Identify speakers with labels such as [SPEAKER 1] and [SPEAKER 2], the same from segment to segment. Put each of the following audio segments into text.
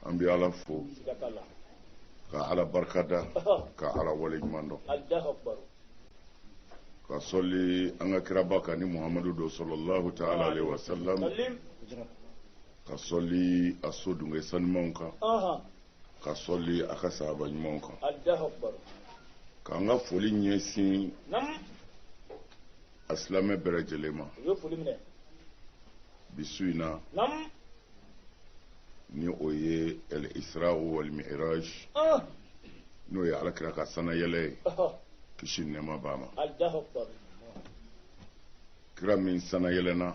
[SPEAKER 1] an bɛ ala fo ka ala barika da ka ala wale ɲuman dɔn ka sɔli an ka kiraba kan ni muhamadu don sallallahu ta'ala alayhi wa sallam ka sɔli a so dunge sanumanw kan ka sɔli a ka sahaba ɲumanw kan k'an ka foli ɲɛsin a silamɛ bɛɛ lajɛlen ma bi su in na ni o ye al isra wal mi'raj ah. n'o ye alakira ka sanayɛlɛ ye kisi ni nɛɛma b'a ma kira min sanayɛlɛna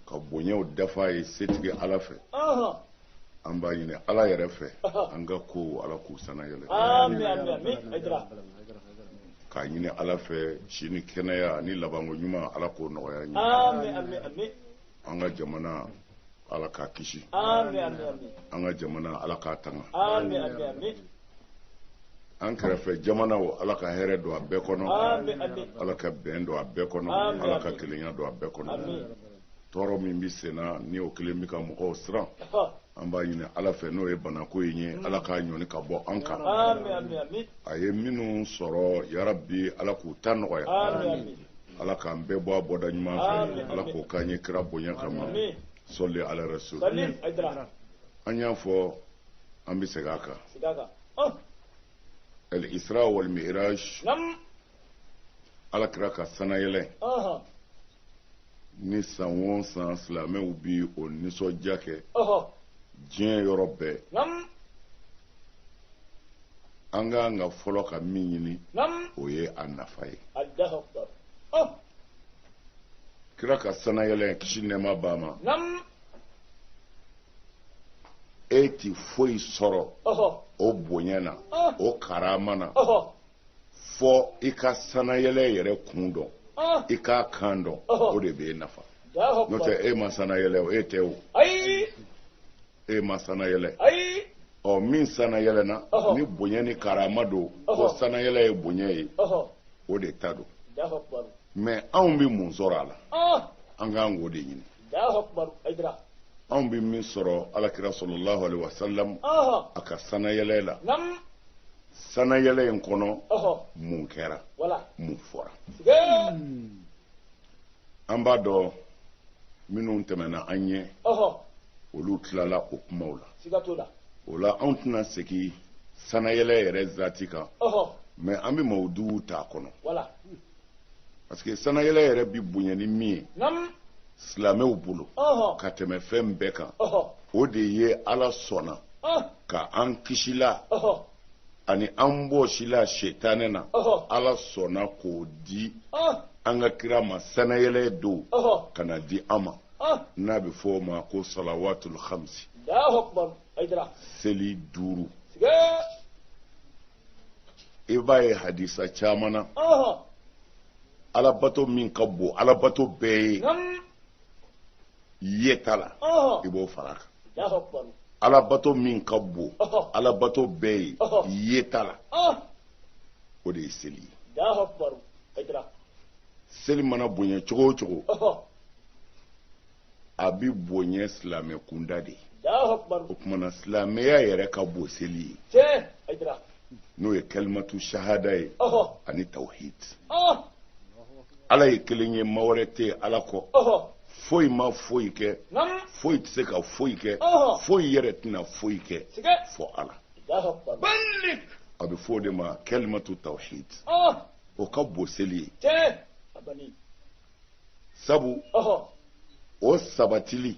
[SPEAKER 1] ka bonyaw dafa ye setigi ala fɛ an b'a ɲini ala yɛrɛ fɛ an ka kow ala k'u sanayɛlɛ k'a ɲini ala fɛ si ni kɛnɛya ni labanko ɲuman ala k'o nɔgɔya an ye an ka jamana ala k'a kisi an ka jamana ala k'a tanga an kɛrɛfɛ jamanaw ala ka hɛrɛ don a bɛɛ kɔnɔ ala ka bɛn don a bɛɛ kɔnɔ ala ka kelenya don a bɛɛ kɔnɔ tɔɔrɔ min bɛ senna ni o kelen bɛ ka mɔgɔw siran an b'a ɲini ala fɛ n'o ye banako in ye ala k'a ɲɔni ka bɔ an kan a ye minnu sɔrɔ yarabi ala k'u ta nɔgɔya ala k'an bɛɛ bɔ a bɔda ɲuman fɛ ala k'o k'an ye kira bonya kama sɔli ala rasul an y'a fɔ an bɛ segin a kan al isra wal mi'raj ala kira ka sanayɛlɛ nin san o san silamɛw bi o nisɔndiya kɛ diɲɛ yɔrɔ bɛɛ an ka kan ka fɔlɔ ka min ɲini o ye a nafa ye oh! kira ka sanayɛlɛ kisi nɛɛma b'a ma e ti foyi sɔrɔ o bonya na ah. o karama na fɔ i ka sanayɛlɛ yɛrɛ kun dɔn ah. i k'a kan dɔn o de b'e nafa n'o tɛ e ma sanayɛlɛ o e tɛ o e ma sanayɛlɛ ayi ɔ min sanayɛlɛna ni bonya ni karama don ko sanayɛlɛ ye bonya ye o de ta don mais anw bɛ mun sɔrɔ a la ah! an ka kan k'o de ɲini anw bɛ min sɔrɔ alakira sallallahu alaihi wasalam a ka sanayɛlɛ la sanayɛlɛ in kɔnɔ mun kɛra mun fɔra an b'a dɔn minnu tɛmɛna an ɲɛ olu tilala o kumaw la o la anw tɛna segin sanayɛlɛ yɛrɛ zati kan mais an bɛ mawudu t'a kɔnɔ parce que sanayɛlɛ yɛrɛ bi bonya ni min ye silamɛw bolo ka tɛmɛ fɛn bɛɛ kan o de ye ala sɔnna ka an kisila ani an bɔsila setanɛ na ala sɔnna k'o di an ka kira ma sanayɛlɛ don ka na di an ma n'a bɛ fɔ o ma ko salawatul khamsi seli duuru i b'a ye hadisa caman na alabato min ka bon alabato bɛɛ ye yeta la i b'o fara kan alabato min ka bon alabato bɛɛ ye yeta la o de ye seli ye seli mana bonya cogo o cogo a bɛ bonya silamɛ kunda de o kumana silamɛya yɛrɛ ka bon seli ye n'o ye kalimatu sahada ye ani tawhid ala ye kelen ye ma wɛrɛ tɛ ala kɔ foyi ma foyi kɛ foyi tɛ se ka foyi kɛ foyi yɛrɛ tɛna foyi kɛ fo ala a bɛ fɔ o de ma kalimatu tawhid o ka bon seli ye sabu o sabatili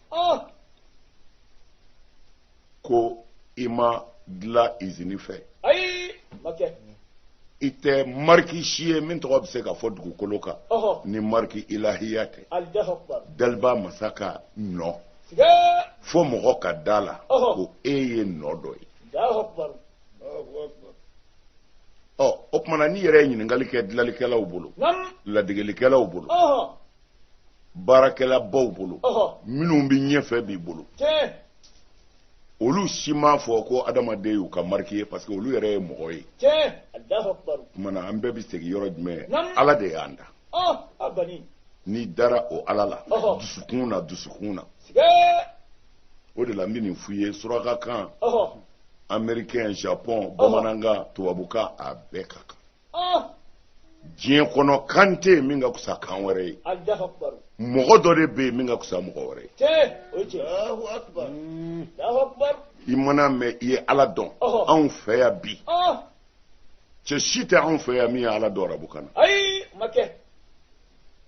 [SPEAKER 1] ko i ma dilan izini fɛ i tɛ mariki si ye min tɔgɔ bɛ se ka fɔ dugukolo kan ni mariki ilahiya tɛ daliba masa ka nɔ fo mɔgɔ ka da la ko e ye nɔ dɔ ye ɔ o kumana n'i yɛrɛ ye ɲininkali kɛ dilanlikɛlaw bolo ladegelikɛlaw bolo baarakɛlabaw bolo minnu bɛ ɲɛfɛ bi bolo olu si m'a fɔ ko adamaden y'u ka mariki ye parce que olu yɛrɛ ye mɔgɔ ye kumana an bɛɛ bɛ segin yɔrɔ jumɛn ala de y'an da n'i dara o ala la dusukun na dusukun na o de la n bɛ nin f'i ye surakakan amerikɛn japɔn bamanankan tubabukan a bɛɛ ka kan diɲɛ kɔnɔ kan tɛ yen min ka fisa kan wɛrɛ ye mɔgɔ dɔ de bɛ yen min ka fisa mɔgɔ wɛrɛ ye i mana mɛn i ye ala dɔn anw fɛ yan bi cɛ si tɛ anw fɛ yan min ye ala dɔn arabukan na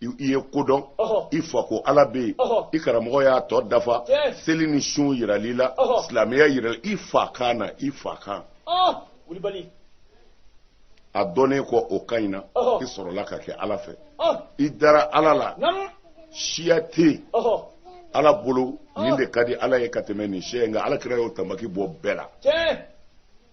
[SPEAKER 1] i ye kodɔn i fa ko ala bɛ yen i karamɔgɔ y'a tɔ dafa seli ni sun yirali la silamɛya yirali i fa kan na i fa kan a dɔnnen kɔ o ka ɲi na i sɔrɔla ka kɛ ala fɛ i dara ala la siya tɛ yen ala bolo nin de ka di ala ye ka tɛmɛ nin siya in nka ala kira y'o tamaki bɔ bɛɛ la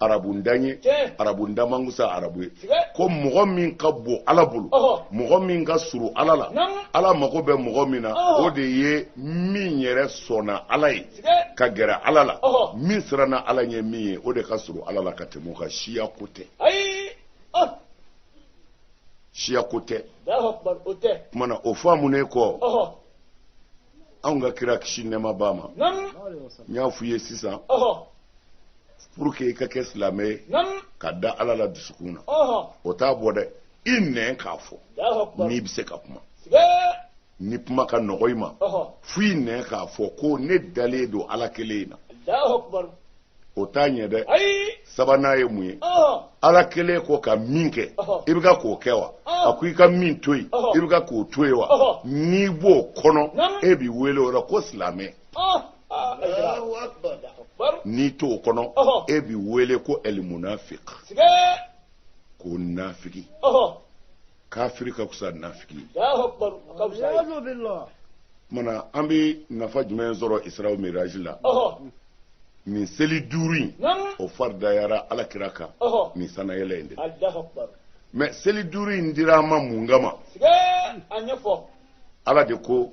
[SPEAKER 1] arabu ntan ye arabu ntan man fisa arabu ye ko mɔgɔ min ka bon ala bolo mɔgɔ min ka surun ala la ala mago bɛ mɔgɔ min na o de ye min yɛrɛ sɔnna ala ye ka gɛrɛ ala la min siranna ala ɲɛ min ye o de ka surun ala la ka tɛmɛ o kan siya ko tɛ siya ko tɛ kumana o faamunen kɔ anw ka kira kisi nɛɛma b'a ma n y'a f'u ye sisan pour que i ka kɛ silamɛ ye ka da ala la dusukun na o t'a bɔ dɛ i nɛn k'a fɔ n'i bɛ se ka kuma ni kuma ka nɔgɔ i ma fo i nɛn k'a fɔ ko ne dalen don ala kelen in na o t'a ɲɛ dɛ sabanan ye mun ye ala kelen ko ka min kɛ i bɛ ka k'o kɛ wa a ko i ka min to yen i bɛ ka k'o to yen wa n'i b'o kɔnɔ e bɛ wele o la ko silamɛ n'i t'o kɔnɔ e bɛ wele ko ɛlimunafiki ko nafiki kafiri ka fisa nafiki ye kumana an bɛ nafa jumɛn sɔrɔ isra miraji la nin seli duuru in o faridayara ala kira kan nin sanayɛlɛ in de mais seli duuru in dira an ma mun kama ala de ko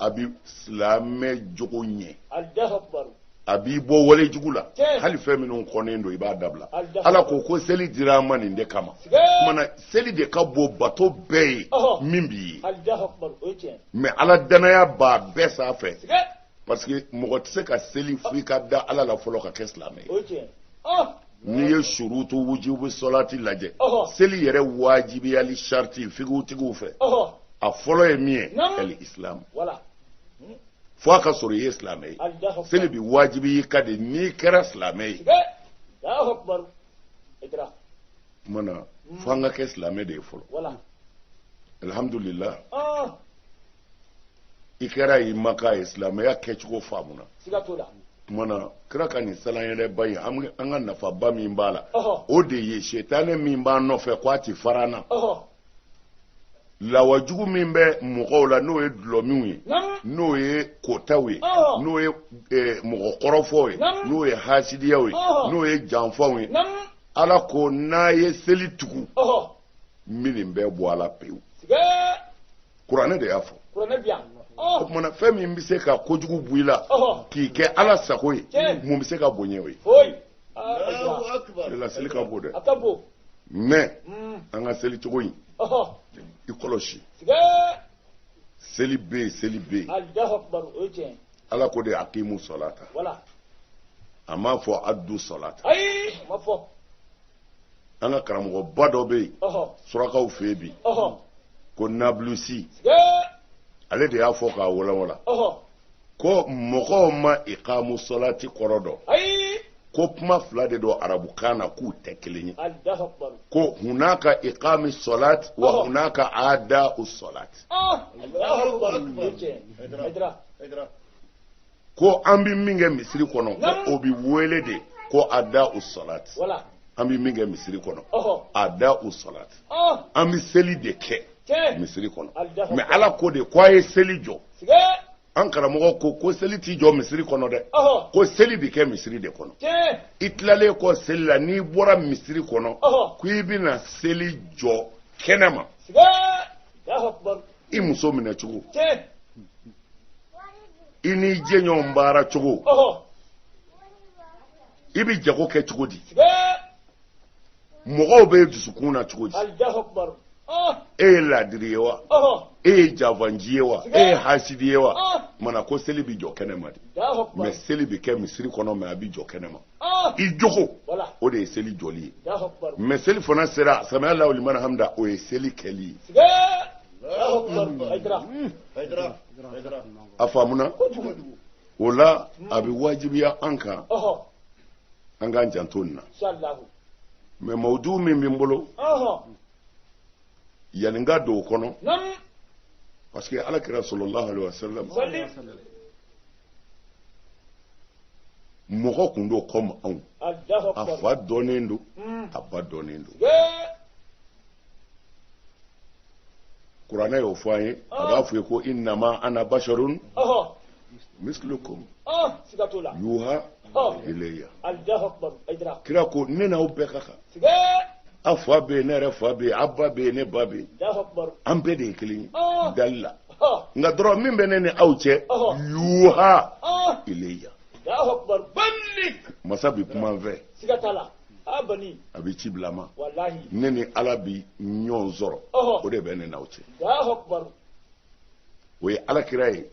[SPEAKER 1] a bɛ silamɛ jogo ɲɛ a b'i bɔ wale jugu la hali fɛn minnu kɔnnen don i b'a dabila ala ko ko seli dira an ma nin de kama kumana seli de ka bon bato bɛɛ ye min bɛ yen mais ala dannaya b'a bɛɛ sanfɛ parce que mɔgɔ tɛ se ka seli fo i ka da ala la fɔlɔ ka kɛ silamɛ ye n'i ye surutu wujubu sɔlati lajɛ seli yɛrɛ wajibiyali sarati figutigiw fɛ a fɔlɔ ye min ye ɛli isilamu fo a ka sɔrɔ i ye silamɛ ye seli bi wajibiy'i kan de n'i kɛra silamɛ ye kuma na mm. fo an ka kɛ silamɛ de ye fɔlɔ alhamdulillah ah. i kɛra i maka ye silamɛya kɛcogo faamuna kuma na kira ka nin sanayɛlɛba in an ka nafaba min b'a la o de ye setanɛ min b'an nɔfɛ ko a ti fara an na lawajugu min bɛ mɔgɔw la n'o ye dulɔmiw ye n'o ye kotaw ye n'o ye eh, mɔgɔ kɔrɔfɔw ye n'o ye hasidiyaw ye n'o ye janfaw ye ala ko n'a ye seli tugu ninnu bɛ bɔ a la pewu kuranɛ de y'a fɔ o tuma na fɛn min bɛ se ka kojugu bɔ i la k'i kɛ ala sago ye mun bɛ se ka bonya o ye la seli ka bon dɛ mɛ mm. an ka seli cogo in i kɔlɔsi seli bɛ yen seli bɛ yen ala ko de akimu sɔlata a m'a fɔ adu sɔlata ayi a m'a fɔ an ka karamɔgɔba dɔ bɛ yen ɔhɔ surakaw fɛ yen bi ɔhɔ ko nabulusi ee ale de y'a fɔ k'a walawala ɔhɔ ko mɔgɔw ma ikamu sɔlati kɔrɔ dɔn ayi ko kuma fila de don arabukan na k'u tɛ kelen ye alahu akubar ko hunaka ikami sɔlati wa Ɔhɔ. hunaka ada'u sɔlati ah alahu akubar o ye tiɲɛ ye Hayidara. Hayidara. ko an bɛ min kɛ misiri kɔnɔ ko o bɛ wele de ko ada'u salati an bɛ min kɛ misiri kɔnɔ ada'u salati an bɛ seli de kɛ misiri kɔnɔ mɛ ala ko de ko a ye seli jɔ an karamɔgɔ ko ko seli tɛ jɔ misiri kɔnɔ dɛ ko seli bɛ kɛ misiri de kɔnɔ i tilalen kɔ seli la n'i bɔra misiri kɔnɔ ko i bɛna seli jɔ kɛnɛ ma i muso minɛ cogo i n'i jɛɲɔgɔn baara cogo i bɛ jago kɛ cogo di mɔgɔw b'i dusukun na cogo di e ye laadiri ye wa e ye janfanci ye wa e ye hasidi ye wa mana ko seli bɛ jɔ kɛnɛ ma de mɛ seli bɛ kɛ misiri kɔnɔ mɛ a bɛ jɔ kɛnɛ ma ah! i jogo o de ye seli jɔli ye mɛ seli fana sera samiya alahu liman hamida o ye seli kɛli ye a faamuna o la a bɛ wajibiya an kan an k'an janto nin na mɛ mawudu min bɛ n bolo yanni n ka don o kɔnɔ parce que ala kira sɔlɔlahu alayhi wa sallam mɔgɔ kun don kɔmi anw a fa dɔnnen don hmm. a ba dɔnnen don kuranɛ y'o fɔ an ye a b'a fɔ ye ko innama ana basharun mislukum yuha ilayya kira ko ne n'aw bɛɛ ka kan aw fa bɛ yen ne yɛrɛ fa bɛ yen aw ba bɛ yen ne ba bɛ yen an bɛɛ de ye kelen ye dali la nka dɔrɔn min bɛ ne ni aw cɛ yuha ilayya masa bɛ kuma n fɛ a bɛ ci bila n ma ne ni ala bi ɲɔgɔn sɔrɔ o de bɛ ne n'aw cɛ o ye alakira ye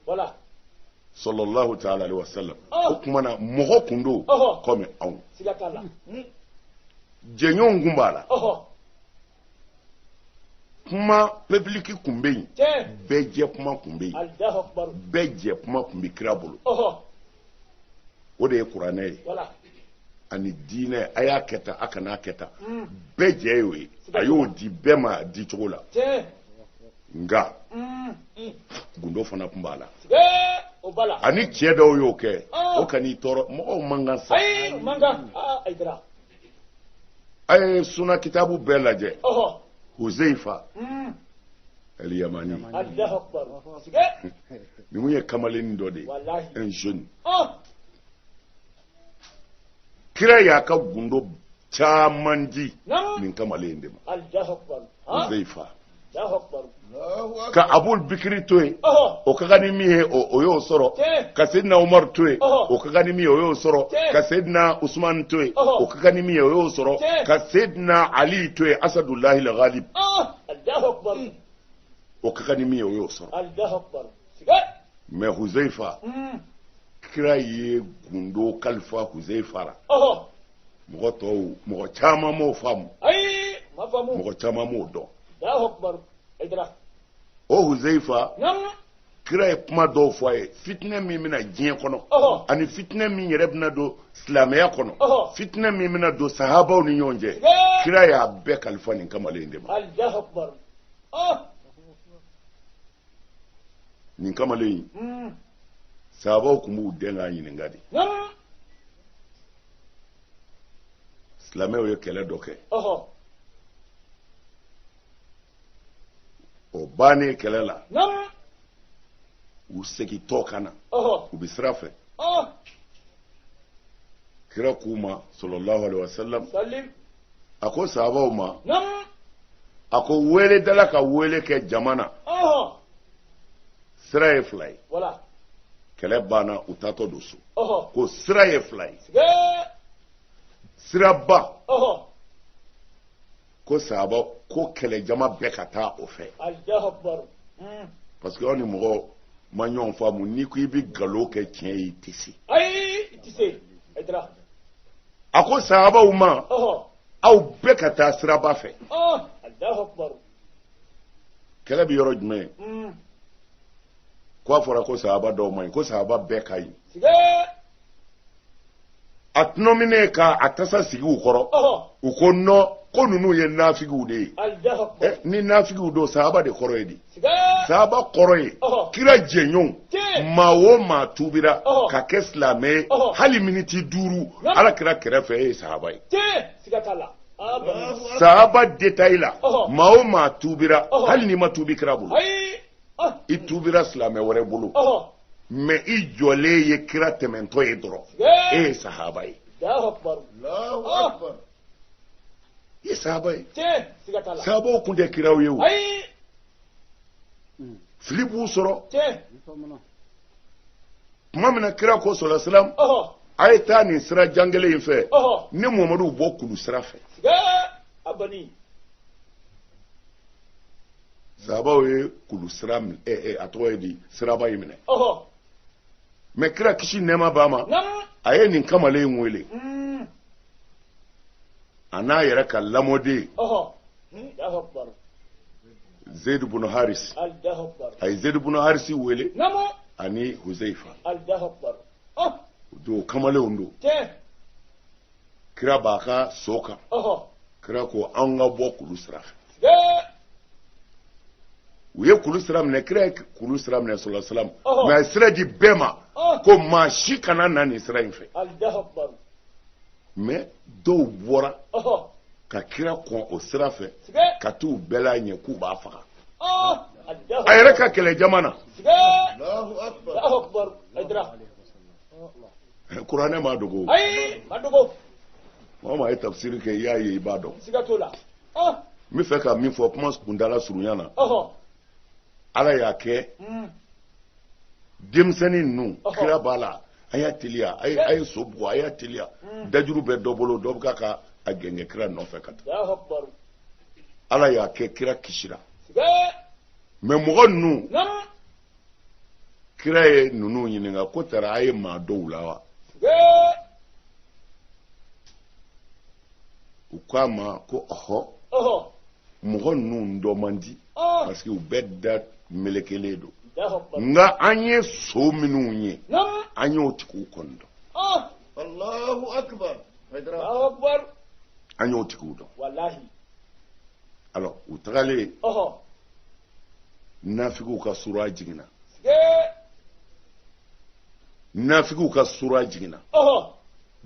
[SPEAKER 1] salalahu taala alayhi wa salam o kuma na mɔgɔ kun don kɔmi anw hmm. jɛɲɔgɔnw kun b'a la kuma public kun bɛ yen bɛɛ jɛ kuma kun bɛ yen bɛɛ jɛ kuma kun bɛ kira bolo. o de ye kuranɛ ye ani diinɛ a y'a kɛ tan a kana kɛ tan mm. bɛɛ jɛ y'o ye a y'o di bɛɛ ma a di cogo la nka mm. gundo fana tun b'a la a ni cɛ dɔw y'o kɛ ah. o kan'i tɔɔrɔ mɔgɔw man kan sa a ye suna kitabu bɛɛ lajɛ huzeifa hmm. aliyamani nin tun ye kamalennin dɔ de ye un jeune ah. kira y'a ka gundo caman di nin kamalen in de ma huzeifa ka abul bikiri to yen o ka kan ni min ye o y'o sɔrɔ ka sedina umaru to yen o ka kan ni min ye o y'o sɔrɔ ka sedina usumani to yen o ka kan ni min ye o y'o sɔrɔ ka sedina ali to yen asadulahi al galib o ka kan ni min ye o y'o sɔrɔ mɛ huzaifa kira ye gundo kalifa huzaifa la mɔgɔ tɔw mɔgɔ caman m'o faamu ayi ma faamu mɔgɔ caman m'o dɔn alahu akubaru ayidara o huzeyifa kira ye kuma dɔw fɔ a ye fitinɛ min bɛ na diɲɛ kɔnɔ ani fitinɛ min yɛrɛ bɛna don silamɛya kɔnɔ fitinɛ min bɛna don sahabaw ni ɲɔgɔn cɛ kira y'a bɛɛ kalifa nin kamalen de ma nin kamalen in hmm. sahabaw tun b'u dɛn k'a ɲininka de silamɛw ye kɛlɛ dɔ kɛ o bannen kɛlɛ la u segintɔ ka na u bɛ sira fɛ kira k'u ma salalahu alaihi wasallam a ko sahabaw ma a ko weeledala ka weele kɛ jama na sira ye fila ye kɛlɛ banna u taatɔ don so ko sira ye fila ye siraba ko sahaba ko kɛlɛjama bɛɛ ka taa o fɛ hmm. parce que aw ni mɔgɔ ma ɲɔgɔn faamu n'i ko i bɛ nkalon kɛ tiɲɛ ye i tɛ se. ayi i tɛ se. a ko sahabaw ma aw bɛɛ ka taa siraba fɛ kɛlɛ bɛ yɔrɔ jumɛn mm. ko a fɔra ko sahaba dɔw man ɲi ko sahaba bɛɛ ka ɲi a tunɔminen ka a tasa sigi u kɔrɔ u ko non ko ninnu ye nafigiw de ye eh, ni nafigiw don sahaba de kɔrɔ ye di Sahaba kɔrɔ ye kira jɛɲɔgɔn maa o maa tubira ka kɛ silamɛ ye hali miniti duuru ala kira kɛrɛfɛ e ye sahaba ye sahaba détail la maa o maa tubira hali n'i ma tubi kira bolo i tubira silamɛ wɛrɛ bolo mais i jɔlen ye kira tɛmɛtɔ ye dɔrɔn e ye sahaba ye i ye sahaba ye sahabaw kun tɛ kiraw ye o fili b'u sɔrɔ tuma min na kira ko sallallahu alaihi wasallam a ye taa nin sira jan kelen in fɛ ne muhamadu bɔ kulu sira fɛ sahabaw ye kulu sira a tɔgɔ ye di siraba in minɛ mais kira kisi nɛɛma b'a ma a ye nin kamalen in wele a n'a yɛrɛ ka lamɔden zeyidu bunu harisi a ye zeyidu bunu harisi wele ani huzeyifa u don kamalenw don kira b'a ka so kan kira ko an ka bɔ kulu sira fɛ u ye kulu sira minɛ kira ye kulu sira minɛ sallallahu alaihi wasallam mais a ye sira di bɛɛ ma ko maa si kana na nin sira in fɛ mais dɔw bɔra ka kira kɔn o sira fɛ ka t'u bɛlɛn a ɲɛ k'u b'a faga a yɛrɛ ka kɛlɛ jama na eh, kuranɛ ma dogo ayi ma dogo maa o maa ye tafsiri kɛ i y'a ye i b'a dɔn siga t'o la ah. n b'a fɛ ka min fɔ kuma kuntala surunya na ala y'a kɛ hmm. denmisɛnnin ninnu kira b'a la a y'a teliya a ye so bugɔ a y'a teliya hmm. dajuru bɛ dɔ bolo dɔ bɛ ka ka a gɛngɛ kira nɔfɛ ka taa ala y'a kɛ kira kisira mais mɔgɔ ninnu kira ye ninnu ɲininka ko tari a ye maa dɔn u la wa u k'a ma ko ɔhɔ mɔgɔ ninnu dɔn man di parce que u bɛɛ da melekelen don nka an ye so minnu ye an y'o tigiw kɔni dɔn an y'o tigiw dɔn alors u tagalen nafigiw ka sura jiginna nafigiw ka sura jiginna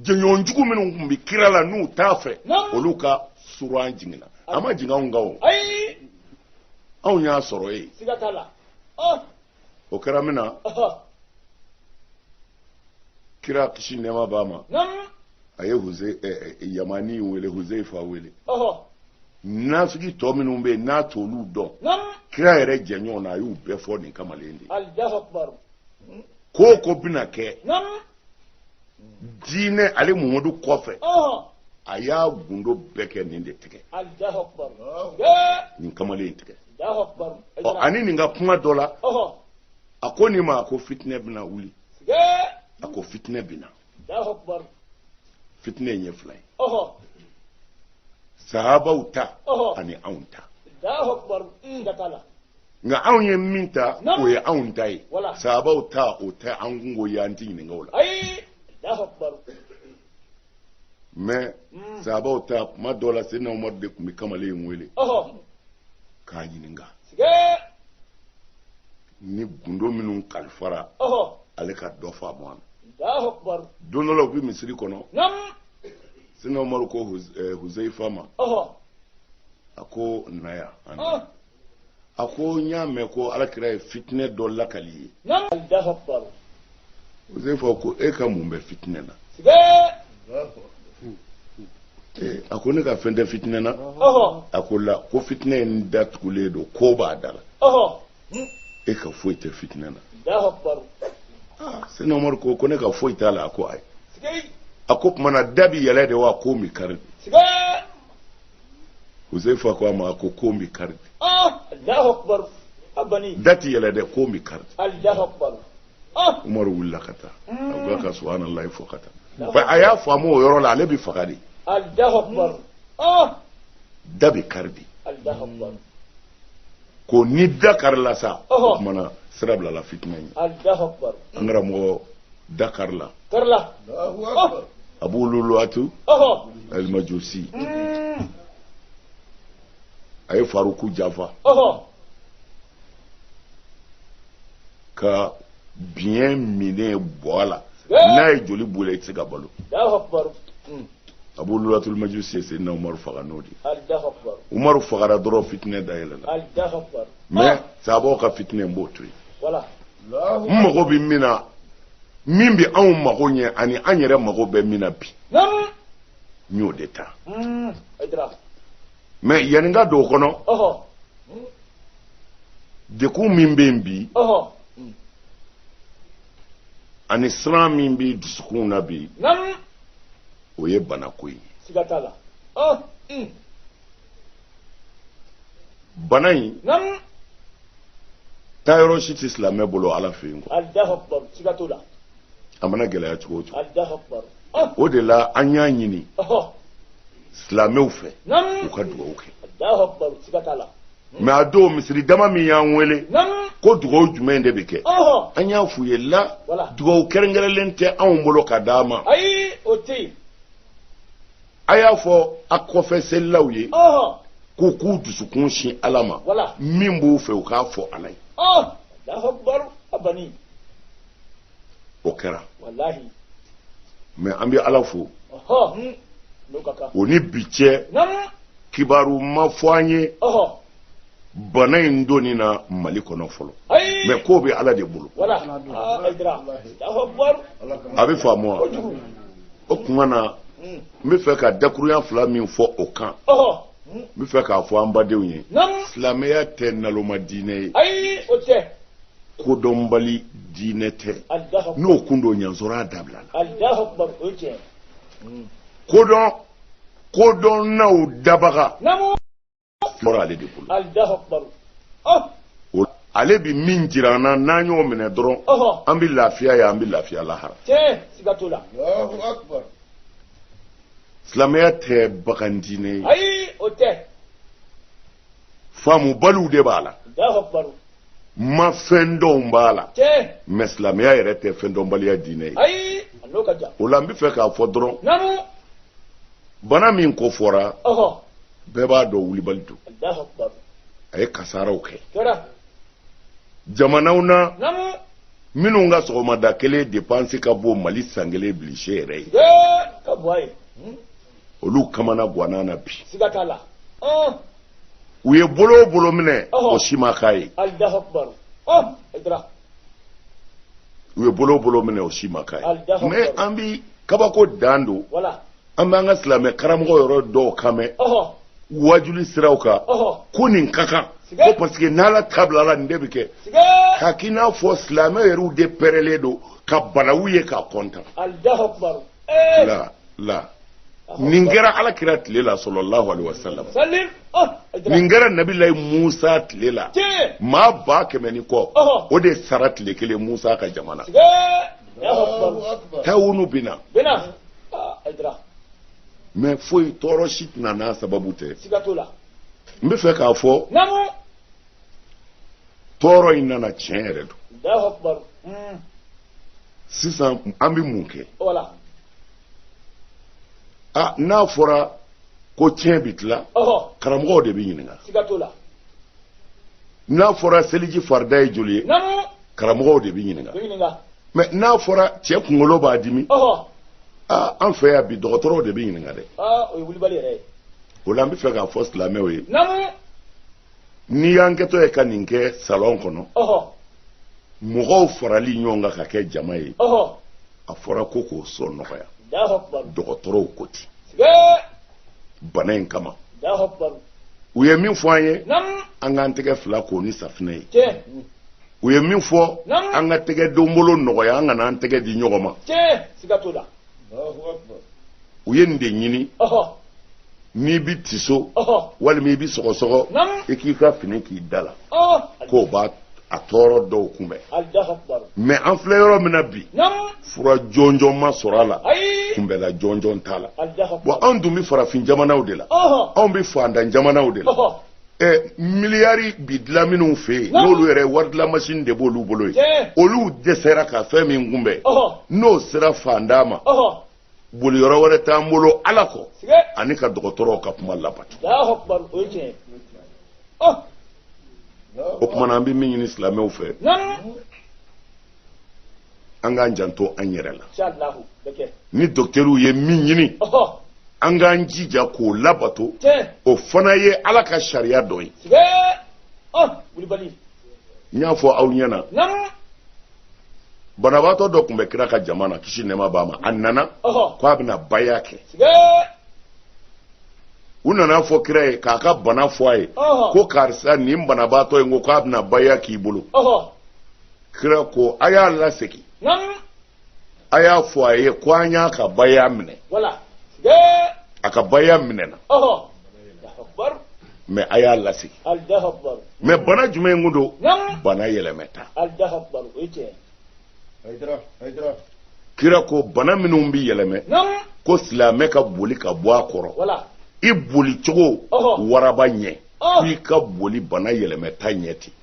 [SPEAKER 1] jɛɲɔgɔn jugu minnu tun bɛ kira la n'u t'a fɛ olu ka sura jiginna a ma jigin anw kan o anw y'a sɔrɔ yen o kɛra min na kira kisi nɛɛma b'a ma a ye huze yamani wele huzeifa wele nafigi tɔ minnu bɛ yen n'a t'olu dɔn kira yɛrɛ jɛɲɔgɔn na a y'u bɛɛ fɔ nin kamalen de ye ko o ko bɛna kɛ diinɛ ale muhamadu kɔfɛ a y'a gundo bɛɛ kɛ nin de tigɛ nin kamalen tigɛ ani nin ka kuma dɔ la a ko nin ma a ko fitinɛ bɛna wuli a ko fitinɛ bɛna fitinɛ in ye fila ye sahabaw ta ani anw ta nka anw ye min ta o ye anw ta ye sahabaw ta o tɛ an kunko y'an ti ɲininka o la mɛ mm. sahabaw ta kuma dɔ la seyidina umaru de tun bɛ kamalen in wele k'a ɲininka ni gundo minnu kalifara ale ka dɔ faamu a la don dɔ la u bɛ misiri kɔnɔ seyidina umaru ko eh, huzaifa ma a ko na yan a ko n y'a mɛn ko alakira ye fitinɛ dɔ lakali i ye huzaifa ko e ka mun bɛ fitinɛ na a ko ne ka fɛn tɛ fitinɛ na a ko la ko fitinɛ in datugulen don kon b'a da la e ka foyi tɛ fitinɛ na seyidina umaru ko ko ne ka foyi t'a la a ko ayi a k'o tuma na da bi yɛlɛ de wa kon bi kari huzaifa ko a ma ko kon bɛ kari da tɛ yɛlɛ dɛ kon bɛ kari umaru wulila ka taa a ko a ka subahanalayi fɔ ka taa a y'a faamu o yɔrɔ la ale bɛ faga de da bɛ kari de ko ni da karila sa o tuma na sira bilala fitina ye
[SPEAKER 2] an
[SPEAKER 1] karamɔgɔ da karila
[SPEAKER 3] abu luluwatu
[SPEAKER 1] alimajusi mm. a ye faruku janfa ka biɲɛ minɛ bɔ a la n'a ye joli bila i tɛ se ka balo abu luluwatul majusi ye seyidina umaru faga n'o de umaru fagara dɔrɔn fitinɛ da yɛlɛla mɛ sahabaw ka fitinɛ n b'o to yen n mago bɛ min na min bɛ anw mago ɲɛ ani an yɛrɛ mago bɛ min na bi n y'o de ta hmm, mɛ yanni n ka don o kɔnɔ degun min bɛ yen bi ani siran min bɛ dusukun na bi o ye banako ye siga t'a la ah, hmm. bana in taa yɔrɔ si tɛ silamɛ bolo ala fɛ yen quoi a mana gɛlɛya cogo o cogo ah. o de la an y'a ɲini silamɛw fɛ u ka dugawu kɛ mɛ a don misiri dama min y'an wele ko dugawu jumɛn de bɛ kɛ an y'a f'u ye la dugawu kɛrɛnkɛrɛnlen tɛ anw bolo ka d'a ma a y'a fɔ a kɔfɛ selilaw ye k'u k'u dusukun sin ala ma min b'u fɛ u k'a fɔ ala ye o kɛra mɛ an bɛ ala fo hmm. o ni bi cɛ kibaru ma fɔ an ye bana in donni na mali kɔnɔ fɔlɔ mɛ k'o bɛ ala de bolo ah, a bɛ faamu wa o tuma na hmm. n bɛ fɛ ka dakuruɲa fila min fɔ o kan n bɛ fɛ k'a fɔ an badenw ye silamɛya tɛ naloma diinɛ ye kodɔnbali diinɛ tɛ n'o kun don y'a sɔrɔ a dabilala kodɔn kodɔnnaw dabaga fɔra ale de bolo ale bɛ min jira an na n'an y'o minɛ dɔrɔn an bɛ lafiya yan an bɛ lafiya lahara silamɛya tɛ bagan diinɛ ye faamubaliw de b'a la ma fɛn dɔw b'a la mɛ silamɛya yɛrɛ tɛ fɛn dɔnbaliya diinɛ ye o la n bɛ fɛ k'a fɔ dɔrɔn bana min kofɔra bɛɛ b'a dɔn wulibali don a ye kasaaraw kɛ jamanaw na minnu ka sɔgɔmada kelen depansi ka bon mali san kelen budget yɛrɛ ye olu kamanagwanna bi siga t'a la u ye bolo o bolo minɛ o si ma k'a ye u ye bolo o bolo minɛ o si ma k'a ye mais an bi kabako dan don an b'an ka silamɛ karamɔgɔ yɔrɔ dɔw kan mɛn wajuli siraw kan ko nin ka kan ko parce que n'ala ta bilala nin de bɛ kɛ k'a k'i n'a fɔ silamɛ yɛrɛw de pɛrɛlen don ka balawu ye ka kɔntan la nin kɛra ala kira tile la sallallahu alaihi wasallam ah, nin kɛra nabilayi musa tile la maa ba kɛmɛ ni kɔ o de sara tile kelen musa ka jamana tawunu bɛ na mɛ foyi tɔɔrɔ si tɛ na n'a sababu tɛ n bɛ fɛ k'a fɔ tɔɔrɔ in nana tiɲɛ yɛrɛ don sisan an bɛ mun kɛ a n'a fɔra ko tiɲɛ bɛ tila karamɔgɔw de bɛ ɲininka n'a fɔra seliji farida ye joli ye karamɔgɔw de bɛ ɲininka mɛ n'a fɔra cɛ kunkolo b'a dimi aa an fɛ yan bi dɔgɔtɔrɔw de bɛ ɲininka dɛ o la an bɛ fɛ k'a fɔ silamɛw ye n'i y'an kɛtɔ ye ka nin kɛ salɔn kɔnɔ mɔgɔw farali ɲɔgɔn kan ka kɛ jama ye a fɔra ko k'o sɔn nɔgɔya dɔgɔtɔrɔw ko ten bana in kama u ye min fɔ an ye an k'an tɛgɛ fila ko ni safinɛ ye u ye min fɔ an ka tɛgɛ donbolo nɔgɔya an kana an tɛgɛ di ɲɔgɔn ma u ye nin de ɲini n'i bɛ tiso walima i bɛ sɔgɔsɔgɔ i k'i ka fini k'i da la k'o b'a tɔɔrɔ dɔw kunbɛn mɛ an filɛ yɔrɔ min na bi fura jɔnjɔn ma sɔrɔ a la kunbɛnla jɔnjɔn t'a la bɔn anw dun bɛ farafin jamanaw de la anw bɛ fantan jamanaw de la ɛ miliyari bi dilan minnu fɛ yen n'olu yɛrɛ waridilamasin de b'olu bolo yen olu dɛsɛra ka fɛn min kunbɛn n'o sera fantan ma boli yɔrɔ wɛrɛ t'an bolo ala kɔ ani ka dɔgɔtɔrɔw ka kuma labato o kumana an bɛ min ɲini silamɛw fɛ an k'an janto an yɛrɛ la ni dɔkitɛriw ye min ɲini an k'an jija k'o labato o fana ye ala ka sariya dɔ ye n y'a fɔ aw ɲɛna banabaatɔ dɔ tun bɛ kira ka jama na kisi nɛɛma b'a ma a nana ko a bɛna baya kɛ u nana fɔ kira ye k'a ka bana fɔ a ye ko karisa nin banabaatɔ in ko k'a bɛna baya k'i bolo kira ko a y'a lasegin a y'a fɔ a ye ko an y'a ka baya minɛ a ka baya minɛna mɛ a y'a lasegin mɛ bana jumɛn kun don bana yɛlɛmɛta kira ko bana minnu bɛ yɛlɛmɛ ko silamɛ ka boli ka bɔ a kɔrɔ i boli cogo waraba ɲɛ i ka boli bana yɛlɛmɛta ɲɛ ten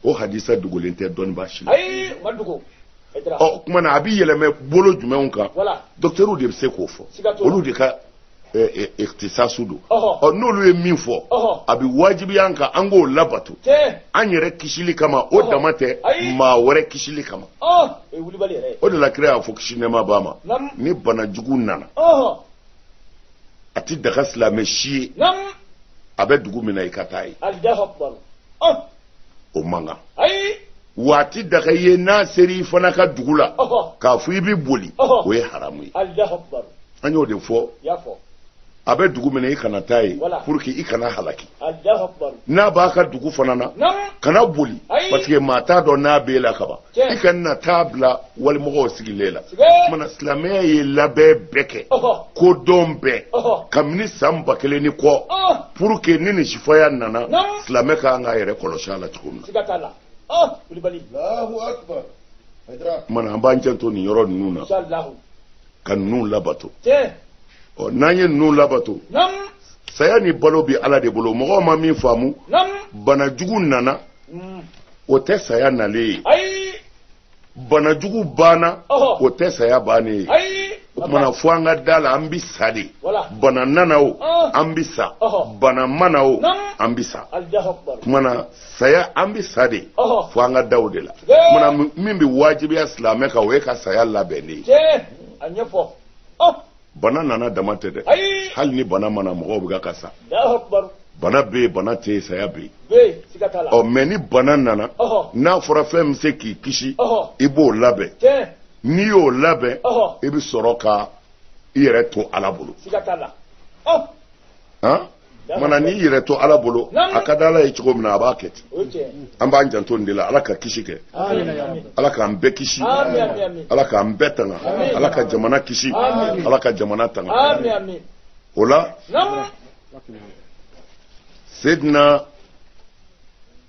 [SPEAKER 1] o hadisa dogolen tɛ dɔnnibaa si la o kumana a bɛ yɛlɛmɛ bolo jumɛnw kan dɔkitɛriw de bɛ se k'o fɔ olu de ka ikitisasu don ɔ n'olu ye min fɔ a bɛ wajibiya an kan an k'o labato an yɛrɛ kisili kama o dama tɛ maa wɛrɛ kisili kama o de la kira y'a fɔ kisi nɛɛma b'a ma ni bana jugu nana a tɛ daga silamɛ si ye a bɛ dugu min na i ka taa ye. o man kan wa a tɛ daga i ye n'a sera i fana ka dugu la k'a fɔ i bɛ boli o ye haramu ye an y'o de fɔ a bɛ dugu min na i kana taa yen pour que i kana halaki n'a b'a ka dugu fana na kana boli parce que maa t'a dɔn n'a b'e la kaban i kana t'a bila walimɔgɔw sigilen la mana silamɛya ye labɛn bɛɛ kɛ ko dɔn bɛɛ kabini san ba kelen ni kɔ pour que ni nin sifaya nana silamɛ ka kan k'a yɛrɛ kɔlɔsi a la cogo min na mana an b'an janto nin yɔrɔ ninnu na ka ninnu labato ɔ n'an ye ninnu labato saya ni balo bɛ ala de bolo mɔgɔw ma min faamu bana jugu nana o tɛ saya nalen ye bana jugu banna o tɛ saya bannen ye o tumana fo an ka da la an bɛ sa de bana nana o an bɛ sa bana ma na o an bɛ sa o tumana saya an bɛ sa de fo an ka da o de la tumana min bɛ wajibiya silamɛ kan o ye ka saya labɛn de ye. bana nana dama tɛ dɛ hali ni bana ma na mɔgɔw bɛ ka sa bana bɛ yen bana tɛ yen saya bɛ yen ɔ mɛ ni bana nana n'a fɔra fɛn bɛ se k'i kisi i b'o labɛn n'i y'o labɛn i bɛ sɔrɔ ka i yɛrɛ to ala bolo mana n'i y'i yɛrɛ to ala bolo a ka di ala ye cogo min na a b'a kɛ ten an b'an janto nin de la ala ka kisi kɛ ala k'an bɛɛ kisi ala k'an bɛɛ tanga ala ka jamana kisi ala ka jamana tanga o la sedina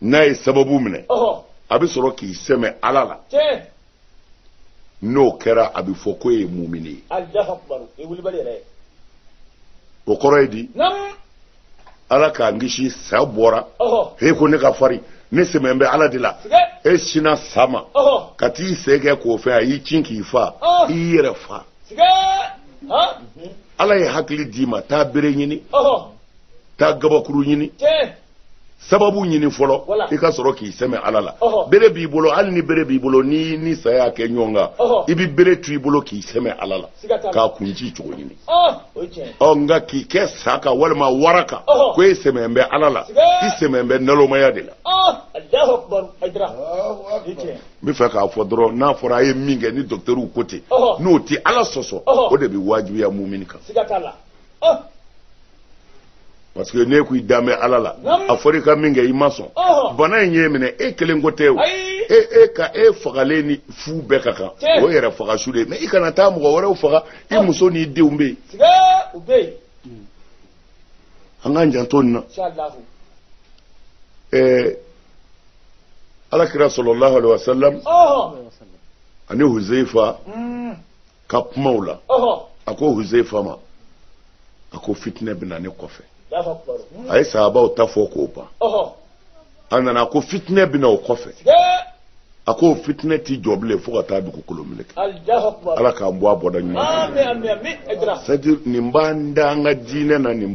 [SPEAKER 1] n'a ye sababu minɛ a bɛ sɔrɔ k'i sɛmɛ ala la n'o kɛra a bɛ fɔ ko e ye mumini ye o kɔrɔ ye di ala k'an kisi sa bɔra e ko ne ka farin ne sɛmɛ bɛ ala de la e sinna sa ma ka t'i sen kɛ k'o fɛ a y'i cin k'i fa i y'i yɛrɛ fa ala ye hakili d'i ma taa bere ɲini taa gabakuru ɲini sababu ɲini fɔlɔ i ka sɔrɔ k'i sɛmɛ ala la bere b'i bolo hali ni bere b'i bolo n'i ni sa y'a kɛ ɲɔgɔn kan i bɛ bere to i bolo k'i sɛmɛ ala la k'a kun ci cogo ɲini ɔ nka k'i kɛ sa kan walima wara kan ko e sɛmɛ bɛ ala la i sɛmɛ bɛ nalomaya de la n bɛ fɛ k'a fɔ dɔrɔn n'a fɔra a ye min kɛ ni dɔkitɛriw ko ten n'o tɛ ala sɔsɔ o de bɛ wajibiya mumini kan parce que ne ko i danbɛ ala la a fɔra i ka min kɛ i ma sɔn bana in y'e minɛ e kelen ko tɛ o e e ka e fagalen ni fu bɛɛ ka kan o yɛrɛ faga su de ye mais i kana taa mɔgɔ wɛrɛw faga i muso n'i denw bɛ yen an k'an janto nin na ɛɛ alakira sallallahu alaihi wasallam ani huzeifa. ka kumaw la a ko huzeifa ma a ko fitinɛ bɛ na ne kɔfɛ a ye sahabaw ta fɔ k'o ban a nana a ko fitinɛ bɛ na o kɔfɛ a ko fitinɛ tɛ jɔ bilen fo ka taa dugukolo meleke ala k'an bɔ a bɔda ɲuman c'est à dire nin b'an da an ka diinɛ na nin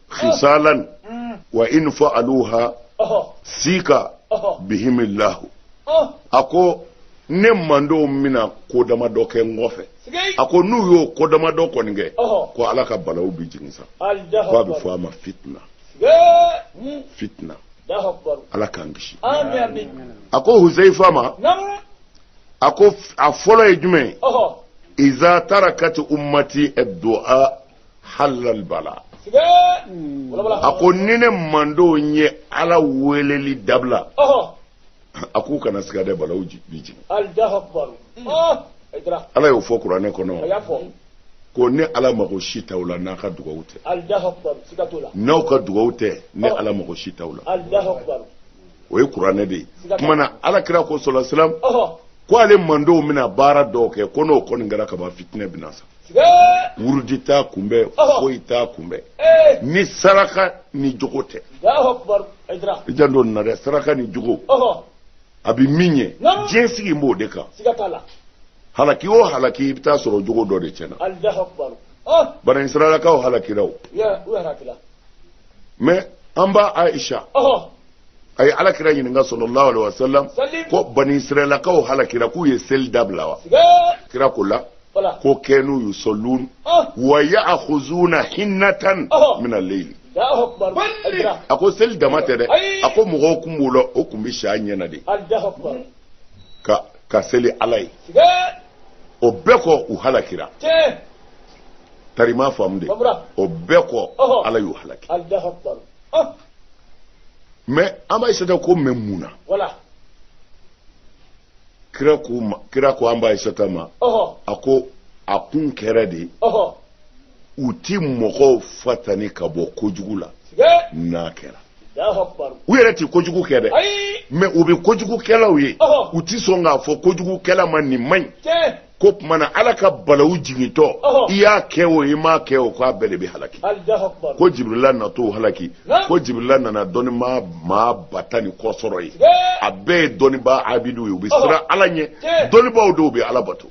[SPEAKER 1] khisalan wa in fa'aluha sika bihimillahu a ko ne mandenw bɛna ko dama dɔ kɛ n kɔfɛ a ko n'u y'o ko dama dɔ kɔni kɛ ko ala ka balaw bɛ jigin sa ko a bɛ fɔ a ma fitina fitina ala k'an kisi a ko huzeifa ma a ko a fɔlɔ ye jumɛn ye iza tarakati ummati ad-du'a halal bala a ko ni ne mandenw ye ala weleli dabila a k'u kana siga dɛ balaw bi jigin mm. ah, ala y'o fɔ kuranɛ kɔnɔ ko ne ala mago si t'aw la n'a ka dugawu tɛ n'aw ka dugawu tɛ ne ala mago si t'aw la o ye kuranɛ de ye kuma na alakira ko sallallahu alaihi wasallam ko ale mandenw bɛna baara dɔw kɛ ko n'o kɔni kɛra kaban fitinɛ bɛna sa wurudi t'a kunbɛn foyi t'a kunbɛn ni saraka ni jogo tɛ i janto nin na dɛ saraka ni jogo a bɛ min ye diɲɛ sigi b'o de kan halaki o halaki i bɛ taa sɔrɔ jogo dɔ de tiɲɛna bani israɛlakaw halakira o mais an ba aisha a ye alakira ɲininka sallallahu alaihi wasallam ko bani israɛlakaw halakira k'u ye seli dabila wa kira ko la ko kanu yusallun wa ya'khuzuna hinnatan min al-layli a ko seli dama tɛ dɛ a ko mɔgɔw kun b'u la o kun bɛ s'a ɲɛna de ka seli ala ye o bɛɛ kɔ u halakira tari a m'a faamu dɛ o bɛɛ kɔ ala y'u halaki mais an ba aisata ko mais mun na kira ko ma kira ko an ba aisata ma a ko a kun kɛra de u ti mɔgɔw fatani ka bɔ kojugu la n'a kɛra u yɛrɛ tɛ kojugu kɛ dɛ mais u bɛ kojugukɛlaw ye u tɛ sɔn k'a fɔ kojugukɛla ma nin man ɲi ko tuma na ala ka balawu jigintɔ i y'a kɛ o i m'a kɛ o k'a bɛɛ de bɛ halaki ko jibirila natɔ halaki ko jibirila nana dɔnnibaa maa ba tan ni kɔ sɔrɔ yen a bɛɛ ye dɔnnibaa abidu ye u bɛ siran ala ɲɛ dɔnnibaaw don u bɛ ala bato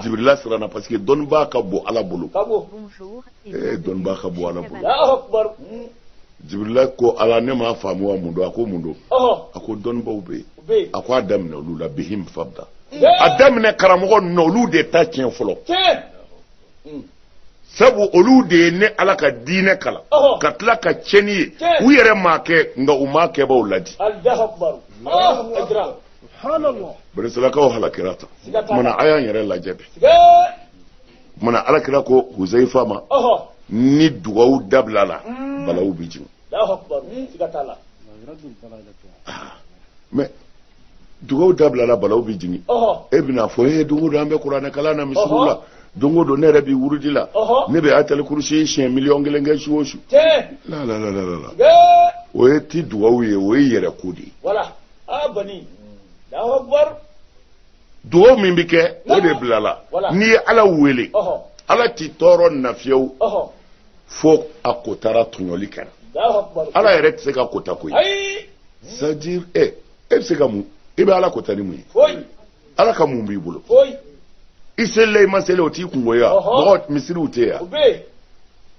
[SPEAKER 1] jibirila siranna parce que dɔnnibaa ka bon ala bolo dɔnnibaa ka bon ala bolo jibirila ko ala ne m'a faamu wa mun don a ko mun don a ko dɔnnibaaw bɛ yen a ko a daminɛ olu la bihim fabda a daminɛ karamɔgɔ ninnu olu de ta tiɲɛ fɔlɔ hmm. sabu olu de ye ne ala ka diinɛ kalan ka tila ka tiɲɛni ye u yɛrɛ m'a kɛ nka u m'a kɛbaaw ladi banisirayilakaw halakira tan tuma na a y'an yɛrɛ lajɛ bi tuma ala kira ko huzaifa ma ni dugawu dabilala hmm. balawu bɛ jigin ah. mais dugawu dabilala balawu bɛ jigin e bɛna fɔ e don o don an bɛ kuranɛ kalan na misiriw la don o don ne yɛrɛ bɛ wurudi la ne bɛ atali kurusi siɲɛ miliyɔn kelen kɛ su o su la la la la la o ye ti dugawu ye o y'i yɛrɛ ko de ye. dugaw min bɛ kɛ o de bilala n'i ye ala wele ala t'i tɔɔrɔ nafiyew fo a kotara tɔɲɔli kɛra ala yɛrɛ tɛ se ka kota koyi c'est-à-dire e bɛ se ka mun i bɛ ala kota ni mun ye ala ka mun b'i bolo i selila i ma seli o t'i kunko ye wa mɔgɔ misiriw tɛ yan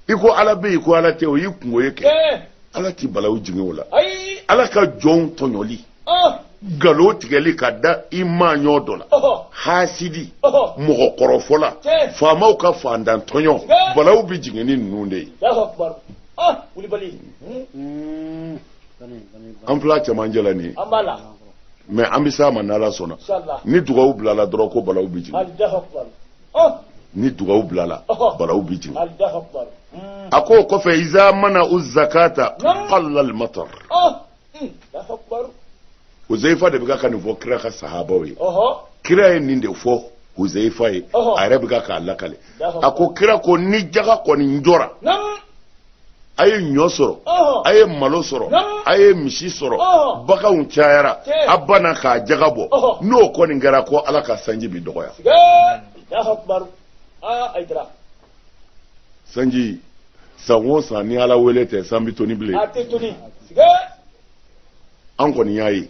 [SPEAKER 1] i ko ala bɛ yen ko ala tɛ o y'i kunko ye kɛ ala ti balawu jigin o la ala ka jɔnw tɔɲɔli nkalon tigɛli ka da i maaɲɔɔn dɔ la hasidi mɔgɔ kɔrɔfɔla faamaw ka faantantɔɲɔ balaw bɛ jigin ni ninnu de ye hmm. an fila cɛmancɛ la nin ye mais an bɛ s'a ma n'ala sɔnna ni dugawu bilala dɔrɔn ko balaw bɛ jigin ni dugawu bilala balaw bɛ jigin hmm. a ko o kɔfɛ iza manau zakata qallal matar hmm, huzaifa de bɛ ka nin fɔ kira ka sahabaw ye kira ye nin de fɔ huzaifa ye a yɛrɛ bɛ k'a lakale a ko kira ko ni jaga kɔni jɔra a ye ɲɔ sɔrɔ a ye malo sɔrɔ a ye misi sɔrɔ baganw cayara a banna k'a jaga bɔ n'o kɔni kɛra ko ala ka sanji bi dɔgɔya sanji san o san ni ala wele tɛ san bɛ toni bilen an kɔni y'a ye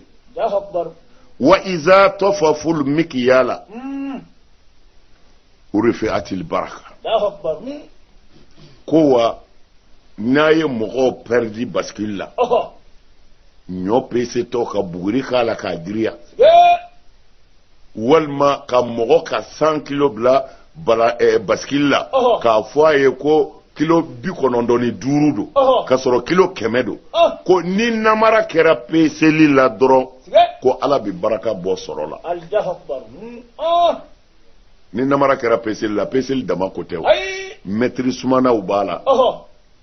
[SPEAKER 1] wa iza tafaful mikiyala hmm. rufiatil baraka ko wa n'a ye mɔgɔw pɛridi basikili la ɲɔ pesetɔ ka buguri k'a la k'a giriya walima ka mɔgɔ ka cent kilo bila bala eh, basikili la k'a fɔ a ye ko kilo bi kɔnɔntɔn ni duuru don ka sɔrɔ kilo kɛmɛ don ko ni namara kɛra peseli la dɔrɔn ko ala bɛ baraka bɔ sɔrɔ la hmm. ni namara kɛra peseli la peseli dama ko tɛ o mɛtiri sumanaw b'a la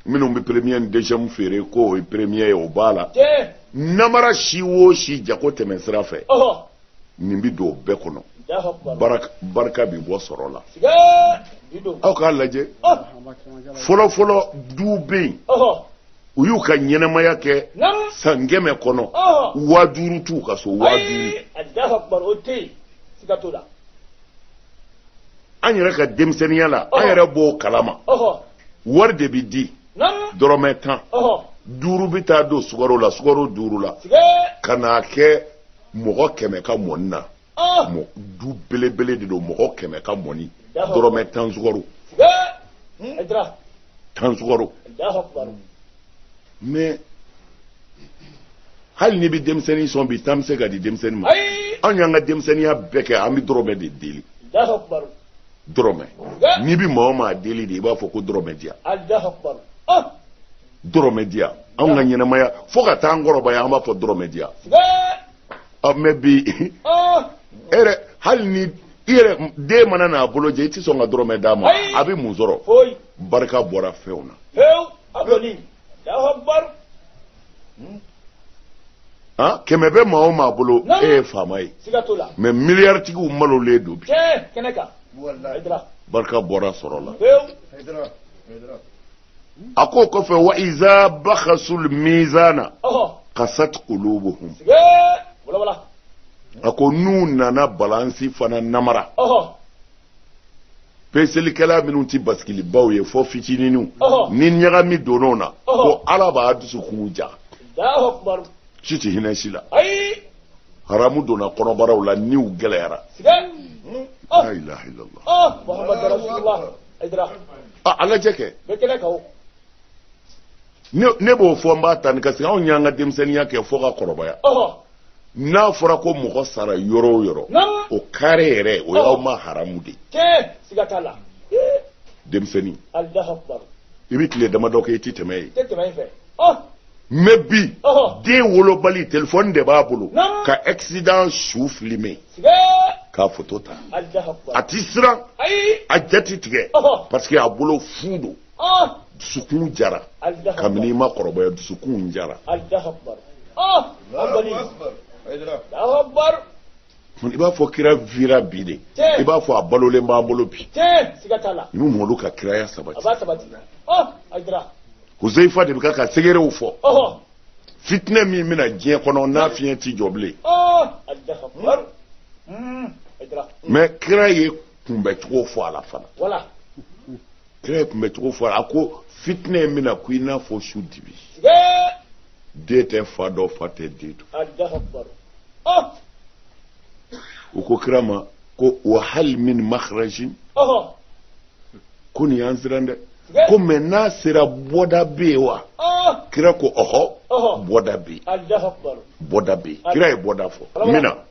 [SPEAKER 1] minnu bɛ premier ni deuxième feere ko o ye premier ye o b'a la namara si o si jago tɛmɛ sira fɛ nin bɛ don o bɛɛ kɔnɔ barika bɛ bɔ sɔrɔ la aw k'a lajɛ fɔlɔfɔlɔ duw bɛ yen u y'u ka ɲɛnamaya kɛ san kɛmɛ kɔnɔ waa duuru t'u ka so waa duuru an yɛrɛ ka denmisɛnninya la an yɛrɛ b'o kalama wari de bɛ di dɔrɔmɛ tan duuru bɛ taa don sukaro la sukaro duuru la ka n'a kɛ mɔgɔ kɛmɛ ka mɔni na du belebele de don mɔgɔ kɛmɛ ka mɔni dɔrɔmɛ tan sukaro tan sukaro mais hali n'i bɛ denmisɛnnin sɔn bi tan bɛ se ka di denmisɛnnin ma anw y'an ka denmisɛnninya bɛɛ kɛ an bɛ dɔrɔmɛ de deli dɔrɔmɛ Bɛɛ. n'i bɛ maa o maa deli de i b'a fɔ ko dɔrɔmɛ di yan alahu akubaru ah dɔrɔmɛ di yan anw ka ɲɛnamaya fo ka taa an kɔrɔbaya an b'a fɔ dɔrɔmɛ di yan sɛgɛ ɔ mais bi e ah yɛrɛ hali ni i yɛrɛ den mana n'a bolo jɛ i tɛ sɔn ka dɔrɔmɛ d'a ma Ayi. a bɛ mun sɔrɔ foyi barika bɔra fɛnw na pewu a kɔni kɛmɛ bɛ maa o maa bolo e ye faama ye mais miliyaritigiw malolen don bi barika bɔra sɔrɔ la a ko kɔfɛ wa iza bakhasul mizana qasat qulubuhum a ko n'u nana balansi fana namara peselikɛla minnu tɛ basikilibaw ye fo fitininw ni ɲagami donn'o na ko ala b'a dusukun ja si tɛ hinɛ si la haramu donna kɔnɔbaraw la niw gɛlɛyara la ilaha illallah a lajɛ kɛ ne b'o fɔ n b'a tani kasi anw y'an ka denmisɛnninya kɛ fo ka kɔrɔbaya n'a fɔra ko mɔgɔ sara yɔrɔ o yɔrɔ o kare yɛrɛ o y'aw ma haramu de ye denmisɛnnin i bɛ tile damadɔ kɛ i tɛ tɛmɛ yen mais bi den wolobali telefɔni de b'a bolo ka accident su filime k'a foto ta a tɛ siran a ja tɛ tigɛ parce que a bolo fu don ah! dusukun jara kabini i ma kɔrɔbaya dusukun jara ah! i b'a fɔ kira vira bi de i b'a fɔ a balolen b'an bolo bi n'u mɔlu ka kiraya sabati huzaifa de bɛ k'a ka sekerew fɔ fitinɛ min bɛ na diɲɛ kɔnɔ n'a fiɲɛ ti jɔ bilen
[SPEAKER 2] mɛ kira
[SPEAKER 1] ye kunbɛcogo fɔ a la fana kira ye kunbɛcogo fɔ a la ko fitinɛ in bɛ na ko i n'a fɔ su dibi den tɛ fa dɔn fa tɛ den
[SPEAKER 2] dɔn ah!
[SPEAKER 1] u ko kira ma ko wa hal min makhrajin ko nin y'an siran dɛ ko mɛ n'a sera bɔda bɛ yen wa ah! kira ko ɔhɔ bɔda bɛ yen
[SPEAKER 2] bɔda bɛ yen kira
[SPEAKER 1] ye bɔda fɔ min na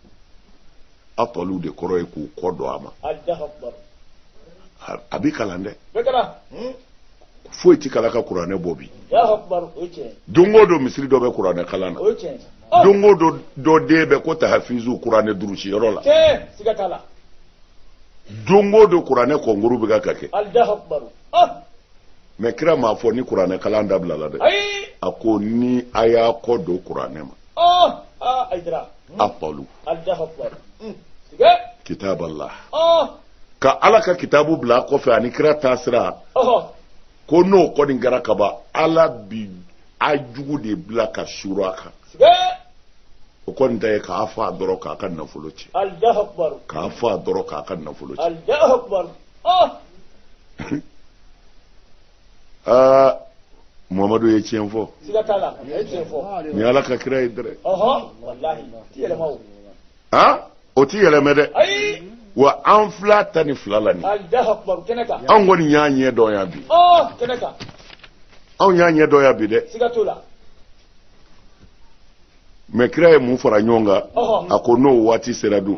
[SPEAKER 1] atalu de kɔrɔ ye k'u kɔ don a ma a bɛ kalan dɛ hmm? foyi tɛ kalan ka kuranɛ bɔ bi don o don misiri dɔ bɛ kuranɛ kalan na oh! don o don dɔ den bɛ ko tahafizu kuranɛ durusi yɔrɔ la don o don kuranɛ kɔnkuru bɛ ka kɛ oh! mɛ kira m'a fɔ ni kuranɛ kalan dabilala dɛ a ko ni a y'a kɔ don kuranɛ ma oh! ah, atalu kitaballah ka ala ka kitabu bila kɔfɛ ani kira taasira ko n'o kɔni kɛra kaban ala bi a jugu de bila ka suuru a kan o kɔni ta ye k'a faga dɔrɔn k'a ka nafolo ci k'a faga dɔrɔn k'a ka nafolo ci muhamadu ye tiɲɛ fɔ ni ala ka kira ye dɛrɛ a o ti yɛlɛmɛ dɛ wa an fila ta ni fila la ni anw kɔni y'a ɲɛ dɔn yan bi anw y'a ɲɛ dɔn yan bi dɛ mɛ kira ye mun fara ɲɔgɔn kan a ko n'o waati sera dun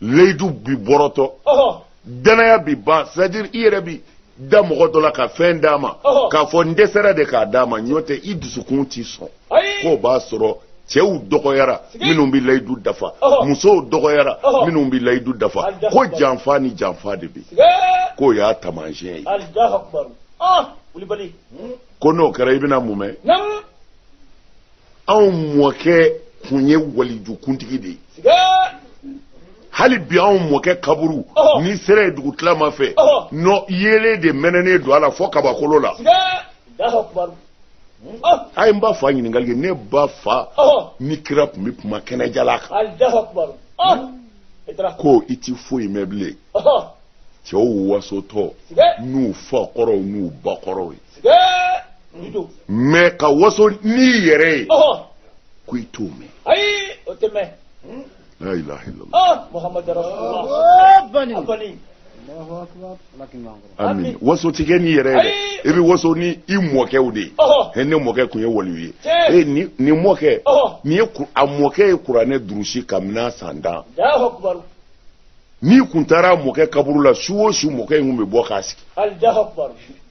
[SPEAKER 1] layidu bi bɔrɔtɔ danaya bi ban c'est à dire i yɛrɛ bi da mɔgɔ dɔ la ka fɛn d'a ma k'a fɔ n dɛsɛra de k'a d'a ma n'o tɛ i dusukun ti sɔn k'o b'a sɔrɔ cɛw dɔgɔyara minnu bɛ layidu dafa musow dɔgɔyara minnu bɛ layidu dafa ko janfa ni janfa de bɛ k'o y'a taamasiyɛn ye ko n'o kɛra i bɛna mun mɛn anw mɔkɛ kun ye walijukuntigi de ye hali bi anw mɔkɛ kaburu n'i sera yen dugutilama fɛ nɔ yeelen de mɛnɛnen don a la fɔ kabakolo la a ye n ba fa ɲininkali kɛ ne ba fa ni kira tun bɛ kuma kɛnɛjala kan ko i ti foyi mɛn bilen cɛw wasotɔ n'u fa kɔrɔw n'u ba kɔrɔw ye mɛ ka waso n'i yɛrɛ ye ko i t'o mɛn ayi o tɛ mɛn la ilaha illallah muhammadu
[SPEAKER 2] rasulullah
[SPEAKER 1] amin waso ti kɛ n'i yɛrɛ ye dɛ i bɛ waso ni i mɔkɛw de ye ne mɔkɛ tun ye waliyu ye ee nin mɔkɛ nin ye a mɔkɛ ye kuranɛ durusi kabini san tan n'i kun taara mɔkɛ kaburu la su o su mɔkɛ in kun bɛ bɔ k'a sigi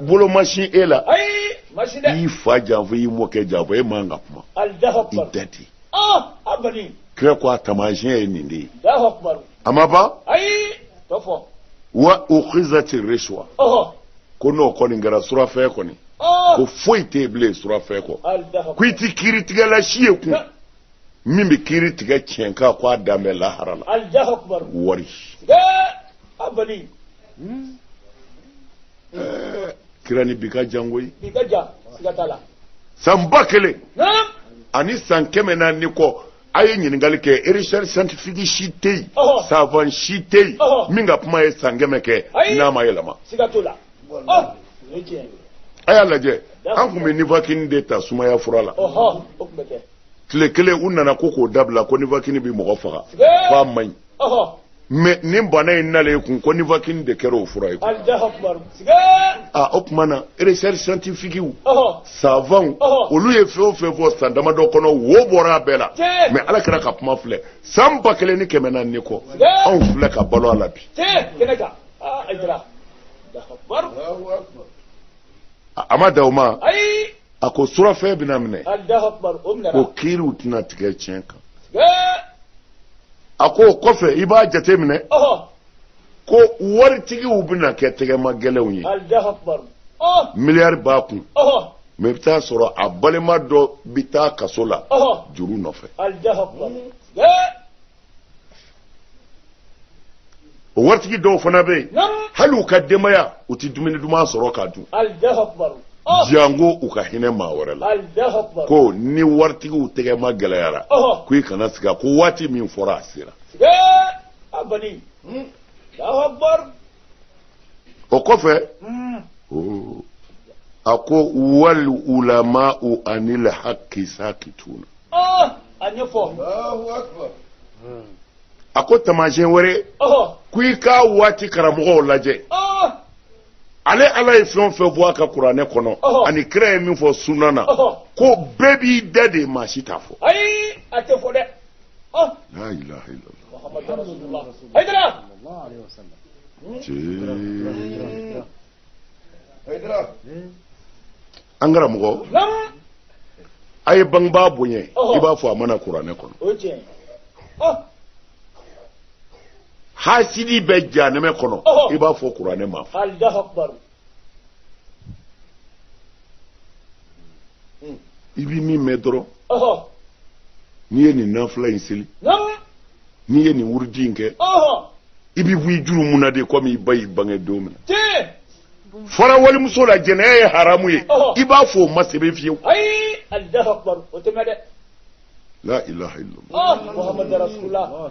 [SPEAKER 1] bolo ma sin e la i y'i fa janfa i y'i mɔkɛ janfa e man ka kuma i da ten ah, kira ko a taamasiyɛn ye nin de ye a ma ban wa ukhizati rishwa ko n'o kɔni kɛra surafɛn kɔni ah. ko foyi tɛ yen bilen surafɛn kɔ ko i tɛ kiiritigɛla si ye kun min bɛ kiiri tigɛ tiɲɛ kan ko a dan bɛ lahara la wari. kira ni bi ka jan koyi bi ka jan siga t'a la san ba kelen ani san kɛmɛ naani kɔ a ye ɲininkali kɛ recherche scientifique si tɛ yen savant si tɛ yen min ka kuma ye san kɛmɛ kɛ n'a ma yɛlɛma a y'a lajɛ an tun bɛ nifakini de ta sumaya fura la
[SPEAKER 2] tile kelen u
[SPEAKER 1] nana ko k'o dabila ko nifakini bɛ mɔgɔ faga k'a man ɲi mɛ nin bana in nalen kun ko nifakini de kɛra o fura ye o tuma na recherche scientifiquew savantw olu ye fɛn o fɛn fɔ san damadɔ kɔnɔ wo bɔra a bɛɛ la mɛ ala kira ka kuma filɛ san ba kelen ni kɛmɛ naani kɔ anw filɛ ka balo a la bi a ma dan o ma a ko surafɛn bɛna minɛ ko kiiriw tɛna tigɛ tiɲɛ kan a ko o kɔfɛ i b'a jate minɛ ko waritigiw bɛna kɛ tɛgɛma gɛlɛnw ye miliyari b'a kun mɛ i bɛ t'a sɔrɔ a balima dɔ bɛ taa kaso la juru nɔfɛ o waritigi dɔw fana bɛ yen hali u ka denbaya u tɛ dumuni duman sɔrɔ k'a dun oh. jango u ka hinɛ maa wɛrɛ la ko ni waritigiw tɛgɛma gɛlɛyara oh. ko i kana siga ko waati min fɔra a sera hmm. o kɔfɛ a ko wal ulama'u anil haqqi sakituna a ko taamasiyɛn wɛrɛ ko i ka waati karamɔgɔw lajɛ ale ala ye fɛn o fɛn bɔ a ka kuranɛ kɔnɔ ani kira ye min fɔ sunna na ko bɛɛ b'i da de maa si t'a fɔ an karamɔgɔ a ye bangebaa bonya i b'a fɔ a ma na kuranɛ kɔnɔ hasidi bɛ janɛmɛ kɔnɔ i b'a fɔ kuranɛ ma i bɛ min mɛn dɔrɔn n'i ye nin nafila in seli n'i ye nin wurudi in kɛ i bɛ bɔ i jurumu na de komi i ba y'i bange don min na fara walimuso la jɛnɛya ye haramu ye i b'a fɔ o ma sɛbɛn fiyewu la ilaha illallah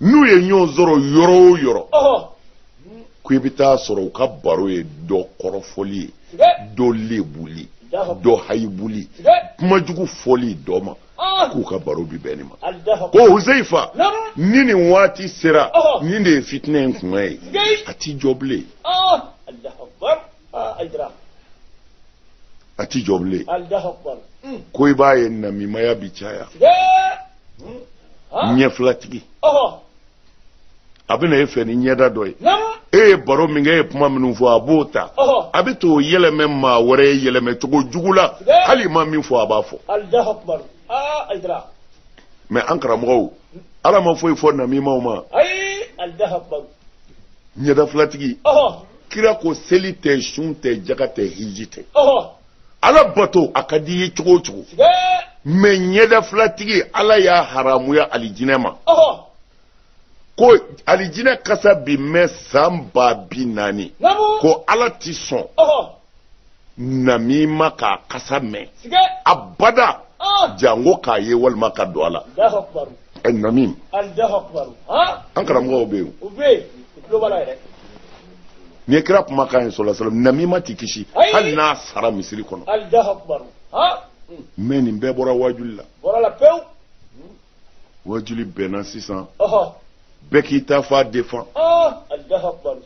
[SPEAKER 1] n'u ye ɲɔgɔn sɔrɔ yɔrɔ o yɔrɔ ko i bɛ taa sɔrɔ u ka baro ye dɔ kɔrɔfɔli ye dɔ lebuli dɔ hayibuli kuma jugu fɔli dɔ ma k'u ka baro bi bɛn nin ma ko huzeyifa ni nin waati sera nin de ye fitinɛ in kuma ye a ti jɔ bilen aa a jira a ti jɔ bilen alahu akubar Hmm. ko i b'a ye namimaya bi caya tiɲɛ Hmm. Ah. ɲɛfilatigi ɔhɔ a bɛ na e fɛ ni ɲɛda dɔ ye namu e ye baro min kɛ e ye kuma minnu fɔ a b'o ta ɔhɔ a bɛ t'o yɛlɛmɛ maa wɛrɛ ye yɛlɛmɛ cogo jugu la Bɛɛ. hali i ma min fɔ a b'a fɔ alahu akubar aa a jira mɛ an karamɔgɔw ala ma foyi fɔ namimaw ma ayi alahu akubar ɲɛda filatigi kira ko seli tɛ sun tɛ jaga tɛ hiji tɛ ala bato a ka di i ye cogo o cogo mɛ ɲɛda filatigi ala y'a haramuya alijinɛ ma ko alijinɛ kasa bi mɛn san ba bi naani ko ala tɛ sɔn namima k'a kasa mɛn abada ah. jango k'a ye walima ka don a la eh, namim ah. an karamɔgɔw bɛ yen nin ye kira kumakan ye sallallahu alaihi wasallam namima ti kisi hali n'a sara misiri kɔnɔ ah. mɛ nin bɛɛ bɔra wajuli la wajuli bɛnna sisan bɛɛ k'i ta fan defan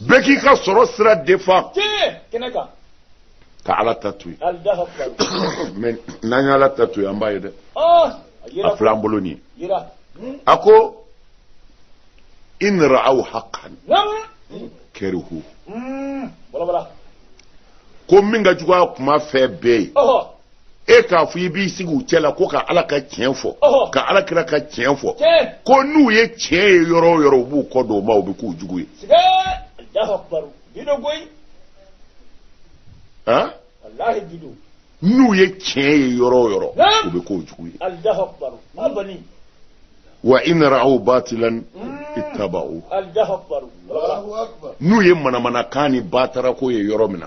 [SPEAKER 1] bɛɛ k'i ka sɔrɔ sira defan ka ala ta to yen mɛ n'an ye ala ta to yen an b'a ye dɛ a filɛ an bolo nin ye a ko in ra'aw haqqan karihu ko min ka jugu a kuma fɛn bɛɛ ye e k'a fɔ i b'i sigi u cɛ la ko ka ala ka tiɲɛ fɔ ka ala kira ka tiɲɛ fɔ ko n'u ye tiɲɛ ye yɔrɔ o yɔrɔ u b'u kɔ don o ma u bɛ k'u jugu ye n'u ye tiɲɛ ye yɔrɔ o yɔrɔ u bɛ k'u jugu ye wa in ra'aw batilan mm. ittaba'u n'u ye manamanakan ni batarako ye yɔrɔ min na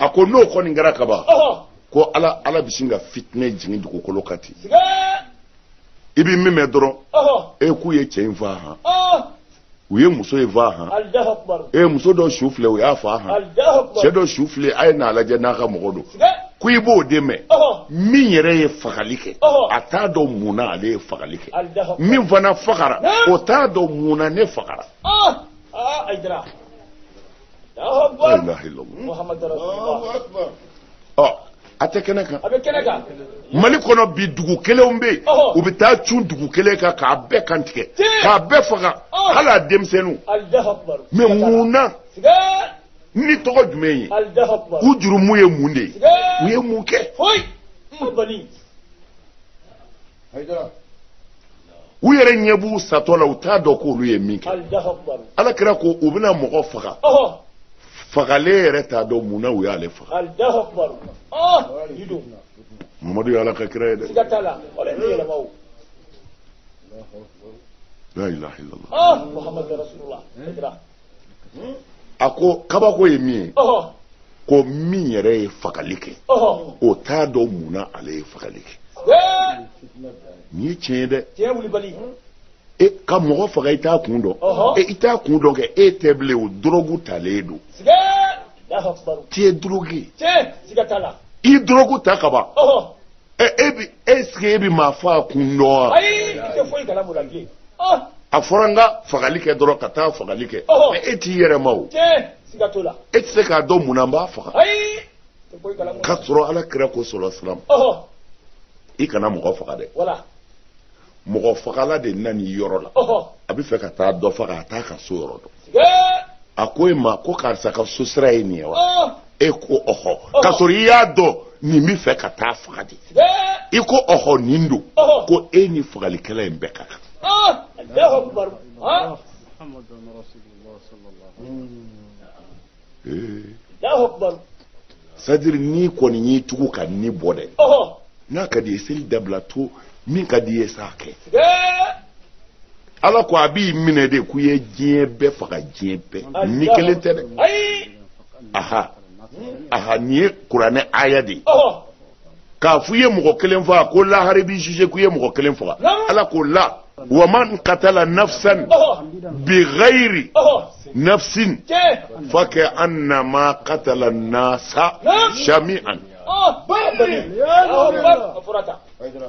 [SPEAKER 1] a ko n'o kɔni kɛra kaban ko ala ala bɛ sin ka fitinɛ jigin dugukolo kan ten i bɛ min mɛn dɔrɔn e k'u ye cɛ in faa han u ye muso in faa han e muso dɔ su filɛ u y'a faa han cɛ dɔ su filɛ a ye n'a lajɛ n'a ka mɔgɔ don ko i b'o de mɛn min yɛrɛ ye fagali kɛ a t'a dɔn mun na ale ye fagali kɛ min fana fagara o t'a dɔn mun na ne fagara ah ay dara la ilaha illallah muhammad rasulullah akbar ɔ a tɛ kɛnɛ kan a bɛ kɛnɛ kan mali kɔnɔ bi dugu kelenw bɛ yen Ɔhɔ. u bɛ taa cun dugu kelen kan k'a bɛɛ kantigɛ Tiɲɛ. k'a bɛɛ faga Ɔhɔ. hali a denmisɛnninw allahu akbar mɛ mun na siga ni tɔgɔ jumɛn ye allahu akbar u jurumu ye mun de ye siga u ye mun kɛ foyi n bali u yɛrɛ ɲɛ b'u satɔ la u t'a dɔn k'olu ye min kɛ ala kira ko u bɛna mɔgɔ faga fagalen yɛrɛ t'a dɔn mun na u y'ale faga mamadu ye ala ka kira ye dɛ la ilaha illallah a ko kabako ye min ye ko min yɛrɛ ye fagali kɛ o t'a dɔn mun na ale ye fagali kɛ nin ye tiɲɛ ye dɛ e ka mɔgɔ faga i t'a kun dɔn e i t'a kun dɔn kɛ e tɛ bilen o dɔrɔgu talen don t'i ye dɔrɔgu ye i dɔrɔgu ta ka ban ɛ e bi ɛsike e bi maa faa kun dɔn wa. ayi i tɛ foyi kalama o la bilen. Ah! a fɔra n ka fagali kɛ dɔrɔn ka taa fagali kɛ. mɛ e t'i yɛrɛ ma o. tiɲɛ siga t'o la. e tɛ se k'a dɔn mun na n b'a faga. ayi tɛ foyi kalama o la. k'a sɔrɔ ala kira ko sɔlɔ salam. i kana mɔgɔ faga dɛ. wala. mɔgɔ fagala de nan'i yɔrɔ la a bɛ fɛ ka taa dɔ faga a t'a ka so yɔrɔ dɔn a ko e ma ko karisa ka so sira ye nin ye wa e ko ɔhɔ k'a sɔrɔ i y'a dɔn nin bɛ fɛ ka t'a faga de i ko ɔhɔ nin don ko e ni fagalikɛla in bɛɛ ka kan c'est-à-dire n'i kɔni y'i tugu ka ni bɔ dɛ n'a ka d'i ye seli dabila to min ka d'i ye sa kɛ ala ko a b'i minɛ de ko i ye diɲɛ bɛɛ faga diɲɛ bɛɛ ni kelen tɛ dɛ aha aha nin ye kuranɛ aya de ye k'a fɔ i ye mɔgɔ kelen faga ko lahara b'i juge ko i ye mɔgɔ kelen faga ala k'o la waman katala nafsan bighayri nafsin faka annama katala nasa jami'an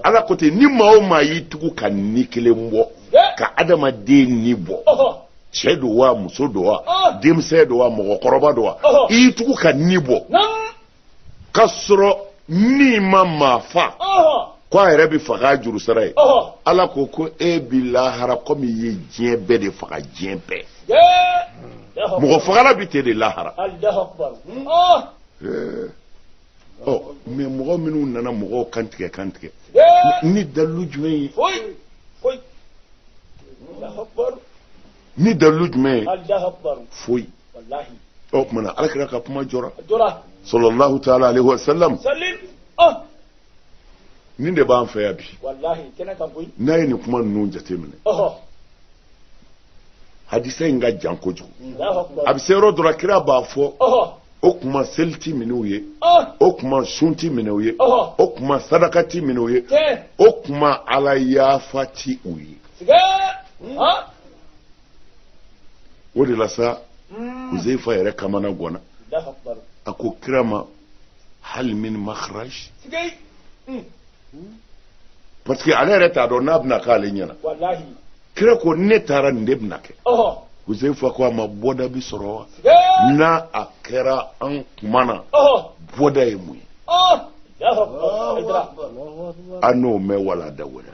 [SPEAKER 1] ala ko ten ni maa o maa y'i tugu ka ni kelen bɔ ka adamaden ni bɔ cɛ don wa muso don wa denmisɛn don wa mɔgɔkɔrɔba don wa i y'i tugu ka ni bɔ k'a sɔrɔ ni ma maa fa ko a yɛrɛ bɛ faga juru sara ye ala ko ko e bɛ lahara komi i ye diɲɛ bɛɛ de faga diɲɛ bɛɛ mɔgɔ fagala bɛ ten de lahara ɔ mais mɔgɔ minnu nana mɔgɔw kantigɛ kantigɛ ni dalilu jumɛn ye ni dalilu jumɛn ye foyi o tuma na ala kira ka kuma jɔra sallallahu taala alaihi wasallam nin de b'an fɛ yan bi n'a ye nin kuma ninnu jateminɛ hadisa in ka jan kojugu a bɛ se yɔrɔ dɔ la kira b'a fɔ o kuma seli ti minɛ u ye o kuma sun ti minɛ u ye o kuma sadaka ti minɛ u ye o kuma ala yafa ti u ye o de la sa hmm. huzaifa yɛrɛ kamanagɔnna a ko kira ma hal min makhraj hmm. parce que ale yɛrɛ t'a dɔn n'a bɛna k'ale ɲɛna
[SPEAKER 2] kira ko
[SPEAKER 1] ne taara nin de bɛna kɛ huzaifa
[SPEAKER 2] ko a
[SPEAKER 1] ma bɔda bi sɔrɔ wa n'a kɛra an kuma na bɔda ye
[SPEAKER 2] mun ye
[SPEAKER 1] a n'o mɛn walanda wɛrɛ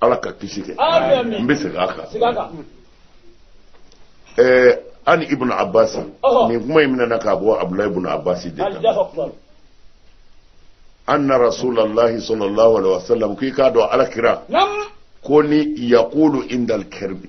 [SPEAKER 2] ala
[SPEAKER 1] ka kisi kɛ n bɛ segin a
[SPEAKER 2] kan ɛɛ
[SPEAKER 1] an ibn abbas nin kuma in minɛna k'a bɔ abdulayi ibn abbas de kan anna rasulallahi sallallahu alaihi wasallam k'i k'a dɔn ala kira
[SPEAKER 2] kana
[SPEAKER 1] yakulu indal karbi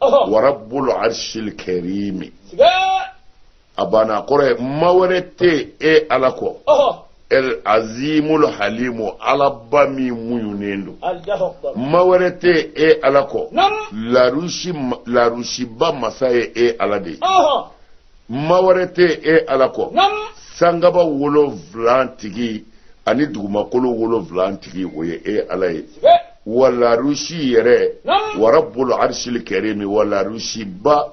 [SPEAKER 1] wa rabbul
[SPEAKER 2] arshil
[SPEAKER 1] karim
[SPEAKER 2] a banna
[SPEAKER 1] kɔrɔ ye ma wɛrɛ tɛ e ala kɔ el
[SPEAKER 2] azimul
[SPEAKER 1] halimu alaba min muɲunen don
[SPEAKER 2] ma wɛrɛ tɛ e
[SPEAKER 1] ala kɔ larusiba masa ye e ala de ye
[SPEAKER 2] ma wɛrɛ
[SPEAKER 1] tɛ e ala kɔ sangaba wolonwula tigi ani dugumakolo wolonwula tigi o ye e ala ye wa larusi yɛrɛ wa rabbul
[SPEAKER 2] arshil
[SPEAKER 1] karim wa larusiba